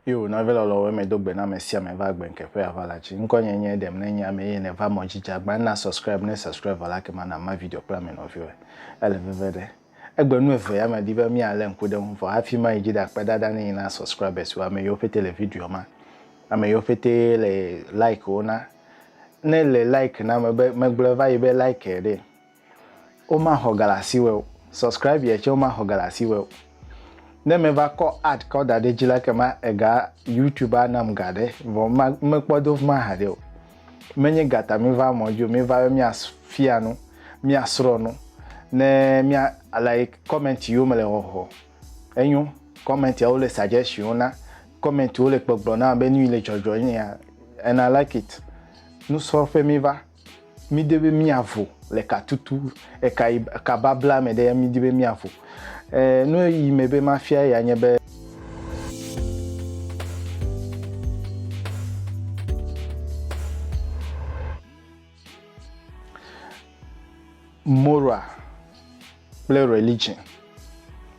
Yo, nɔvi lɔlɔ̃wo eme do gbe na ame sia ame va gbe nke ƒe ava la dzi. Ŋkɔ nye nye ɖem ne nye ame eye nèva mɔ dzi dze agba na subscribe ne subscribe vɔ la ke ma na ma video kple ame nɔviwo. Ele veve ɖe. Egbe nu evea me di be mia le ŋku ɖe ŋu vɔ hafi ma yi dzi ɖa kpe ɖa ɖa ne yi na subscribers wo ame yiwo pete le videoa ma ame yiwo pete le like wo na ne le like na me be me gblɔe va yi be like e ɖe wo ma xɔ ga le asi wɔ o subscribe e tse wo ma xɔ ga le asi wɔ o ne me va kɔ ad kɔ da ɖe dzi la ke ma ega youtube a nam ga ɖe vɔ ma me kpɔ do fima ha ɖe o menye ga ta míva mɔ dzi o, míva be míafia nu, míasrɔ̃ nu, ne mía like comment yiwo mele xɔxɔ. Enyo, comment yawo le suggestion na, comment wo le gbɔgblɔ na be nu yi le dzɔdzɔ nye ya and I like it. Nusrɔ̃ƒe míva, mídi be míavo le katutu eka yi eka babla me ɖe ya mídi be míavo. Eh, nu yi me be mafia ya nye be. Moral kple religion,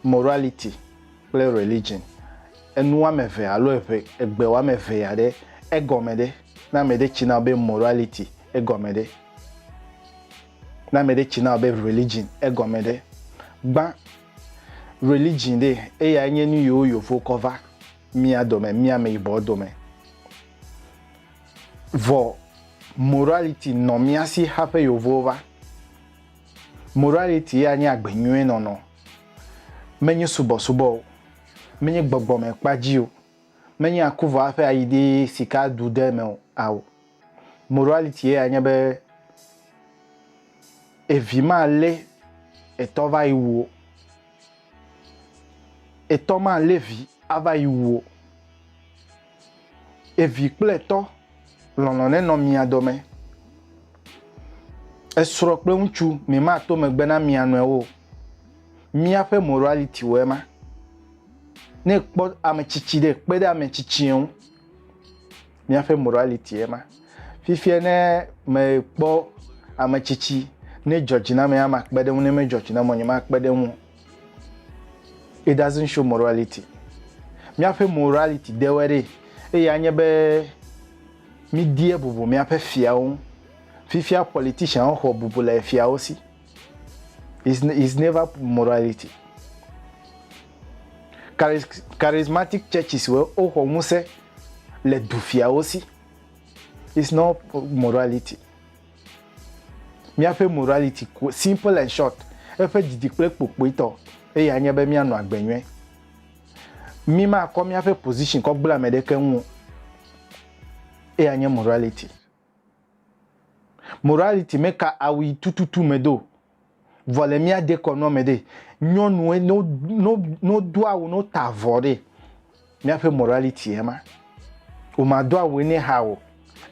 morality kple religion, enu woame eve alo eve egbe woame eve ya ɖe egɔme ɖe, ne ame ɖe tsi na be morality egɔme ɖe. Ne ame ɖe tsi na wò be religion egɔme ɖe? Gbã religion ɖe eyae nye nu yiwo yovo kɔ va mía dome, mía ameyibɔ dome. Vɔ morality nɔ mía si haƒe yovowo va. Morality ya nye agbe nyuie nɔnɔ. Menye subɔsubɔ o, menye gbɔgbɔmekpa dzi o, menye akuvɔ aƒe ayi ɖi sika ɖu ɖe eme o ao. Morality ye ya nye be evi ma lé etɔ va yi wuo. Etɔ ma lé vi ava yi wuo. Evi kple etɔ lɔlɔ ne nɔ mia dɔme. Esrɔ kple ŋutsu mi ma to megbe na mia nɔewo. Mia ƒe morality wɔ ema. Ne kpɔ ametsitsi ɖe kpe ɖe ametsitsi ŋu. Míaƒe morality ye ma. Fifia ne mekpɔ ame tsitsi ne dzɔ dzi na ame ya makpe ɖe ŋu ne medzɔ dzi na ame nyemakpe ɖe ŋu. It doesn't show morality. Míaƒe morality dewɔe ɖe eye anye be mídie bubu míaƒe fiawo ŋu. Fifia politicianwo xɔ bubu le fiawo si. is is never morality charismatic churches wo woxɔ ŋusẽ le dufiawo si is not morality míaƒe morality simple and short eƒe didi kple kpokpoitɔ eye anye be míanɔ agbe nyuie mi ma kɔ míaƒe position kɔ gblẽ ame ɖeke ŋu eye anye morality Morality me ka awui tututu me do. Vɔ le mía dekɔnua me ɖe, nyɔnue no no no do awu no ta avɔ ɖe, mía ƒe morality ye ma. O ma do awue ne ha o,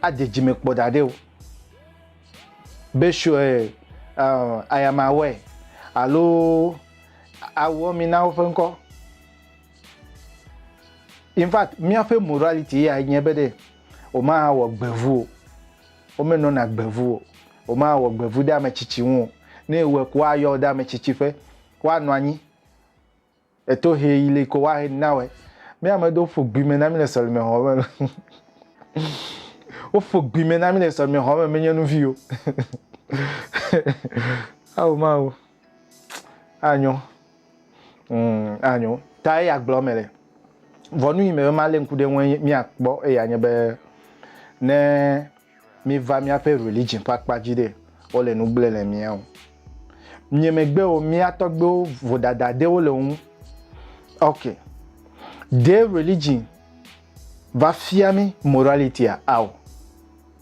a de dzime kpɔ ɖa ɖe o. Be shue uh, ayama wɛ alo awuɔ mi na woƒe ŋkɔ. In fact, mía ƒe morality ya nye be ɖe. wòmawɔ gbevu o. Womenɔna gbevu o. Wòmawɔ gbevu ɖe ame tsitsi ŋu o. Ne ewɔe ko woayɔ wò ɖe ame tsitsi ƒe. Woanɔ anyi le tohe yi li ko woahe nu nawɔe. Mí ame ɖewo ƒo gbi me na mí le sɔlemexɔ me. Woƒo gbi me na mí le sɔlemexɔ me menye nu vi o. Ao Mawu. Anyo. Mm, anyo. Ta eya gblɔ me le. Vɔnu yi me be malé ŋku ɖe ŋu míakpɔ eya nye be ne míva míaƒe religion ƒe akpa dzi ɖe wole nu gblẽ le mía o. Nye megbewo mía tɔgbewo vodada ɖewo le ŋu. Ok. Ɖe religion va fia mí moralitya ao.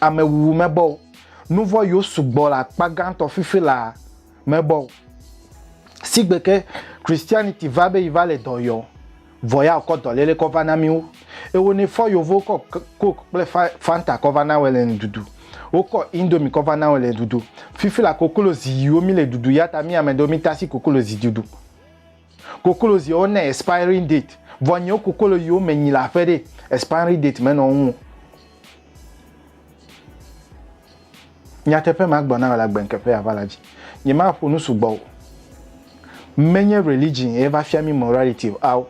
amewuwu mebɔ o. Nuvɔ̃ yiwo sugbɔ le akpa gãtɔ fifi la mebɔ o. Sigbe ke Christianity va be yi va le dɔ yɔ, vɔ ya okɔ dɔlele kɔ va na mi wo. Ewo ne fɔ yovowo kɔ coke kple fanta kɔ va na wɛ le nududu. Wo kɔ indomie kɔ va na wɛ le dudu. Fifi la kokolozi yiwo mi le dudu yata mi ameɖewo mi tasi kokolozi dudu. Koklo ziwo ne expiring date, vɔ nyiwo koklo yiwo me nyi le aƒe ɖe, expiring date me nɔ ŋu. Nyateƒe ma gblɔ na wò la gbeŋke ƒe ava la dzi. Nye ma ƒo nu sugbɔ o. Menye religion ye va fia mi morality o. Ao.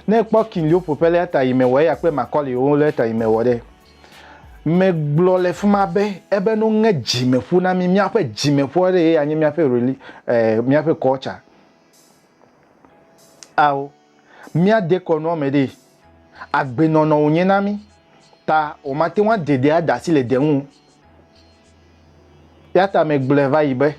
Ne ekpɔ king yiwo ƒo ƒe le eta yi me wɔ eya kple Macaulay wo le eta yi me wɔ ɖe. Me gblɔ le fima be ebe no ŋe dzi me ƒu na mi, mia ƒe dzi me ƒua ɖe ye ya nye mia ƒe reli, eh, mia ƒe culture. Ao, míade kɔ nɔ mɛɖe agbenɔnɔ wònye na mí ta wòmate ŋu ade ɖe ada asi le de ŋu o. Ya ta megblɔe va yi be,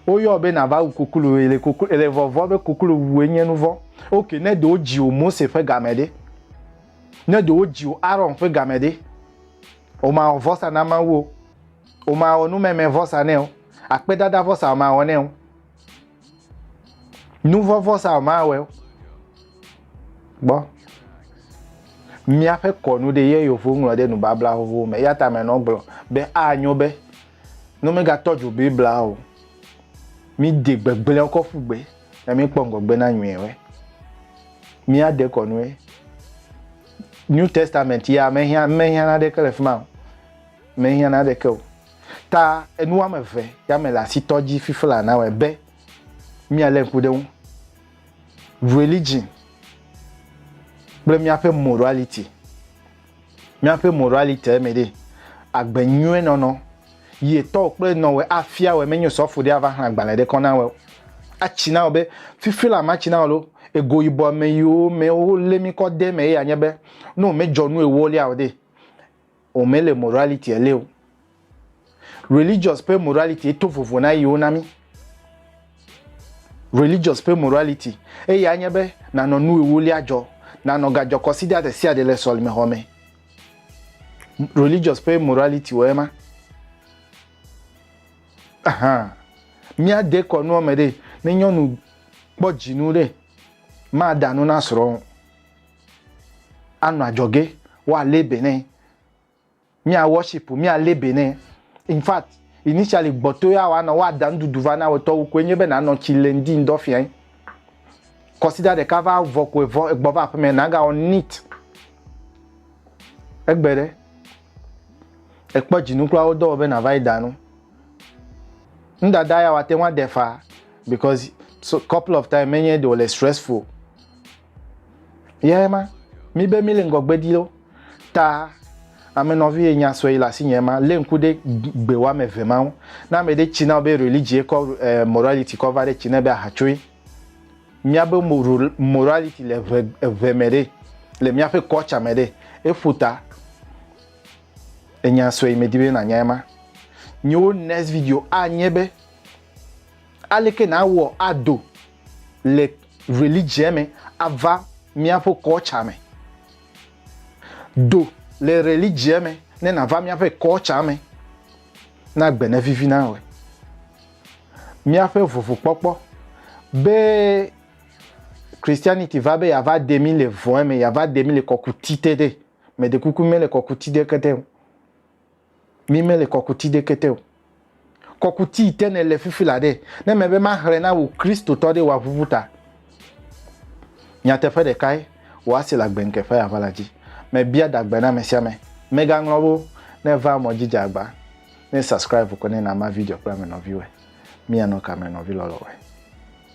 woyɔ wò be nàva wu kuklu, èle kuklu, èle vɔvɔ̃ be kuklu wue nye nu vɔ̃. Ok, ne ɖe wodzi wò Mose ƒe game ɖe? Ne ɖe wodzi wò Aron ƒe game ɖe? Wòmawɔ vɔsa na Mawu o. Wòmawɔ numemevɔsa nɛ o. Akpedadavɔsa wòmawɔ nɛ o. Nuvɔvɔsa mawɛ gbɔ. Míaƒe kɔnu ɖe ye yewo ŋlɔ ɖe nubabla xoxo me. Eya ta me nɔ gblɔ be anyo be ne megatɔ dzo Biblia o, mi de gbegblẽ kɔ ƒu gbe ne mi kpɔ ŋgɔgbe na nyuie wɛ. Mía de kɔnu wɛ. New Testament ya me hiã me hiã na ɖe ke le fima o. Me hiã na ɖe ke o. Ta enu woame eve ya mele asitɔ dzi fifla na wɔe be míalé ŋku ɖe ŋu. Religion kple míaƒe morality. Míaƒe morality me ɖe agbe nyuie nɔnɔ yie tɔwo kple nɔwɔe afia wɔe menyo sɔfo ɖe ava xlẽ agbalẽ ɖe kɔ na wɔe. Atsi na wɔ be fifla matsi na wɔ lo ego yibɔ ame yiwo me wolé mi kɔ de me ye anye be ne wòmedzɔ nu ewolia o ɖe. O me le morality ele o. Religious pe morality eto vovo na yiwo na mi. Religious pe morality eye anye be nanɔ nu ewolia jɔ, nanɔ gajɔ kɔ sida de sia de le sɔlime xɔ me. Religious pe morality o ema. Aha. Mia de kɔ nuɔ me de ne nyɔnu kpɔ jinu de ma da nu na srɔ̃. anɔ adzɔge woalé be nɛ mía worship míalé be nɛ in fact initially gbɔto ya woanɔ woada nuɖuɖu va na wotɔwo koe nye be nanɔ tsi le ŋdi ŋdɔ fiae kɔsida ɖeka va vɔ koe vɔ egbɔ va aƒeme nagawɔ nit egbe ɖe ekpɔ dzinu kura wodɔ be nava yi da nu ŋdada ya wate ŋu aɖe fa because so couple of time menye ɖe wòle stressful Yɛ ma, mí be mí le ŋgɔgbe di loo. Ta ame nɔvi ye nya sɔe le asi nye ma, lé ŋku ɖe gbe woame eve ma ŋu. Ne ame ɖe tsi na wò be religie kɔ eh, morality kɔ va ɖe tsi nɛ be ahatsoe. Míabe morality le eve, eve me ɖe, le míaƒe culture me ɖe. Eƒo ta. Enya sɔe medi be nànya ema. Nyewo next video anye be aleke nàwɔ ado le religiɛ me ava míaƒe kɔltsa me. Do le religiɛ me ne nàva míaƒe kɔltsa me, na gbe nevivi na wòe. Míaƒe vuvukpɔkpɔ be Christianity va be yeava de mí le vɔ̃e me, yeava de mí le kɔkuti te ɖe, meɖe kuku mele kɔkuti ɖeke te o. Mi mele kɔkuti ɖeke te o. Kɔkuti yi te nèle fifi la ɖe, ne mebe maxlẽ na wò Kristotɔ ɖe wòaʋuʋu ta. Nyateƒe ɖekae wòase le agbenke ƒe aʋa la dzi. Mebia ɖagbe na amesiame, megaŋlɔ wo ne vaa mɔ dzi dze agba. Ne subscribe ko ne na ma video kple ame nɔviwɔe. Mianɔ ka me nɔvi lɔlɔwɔe?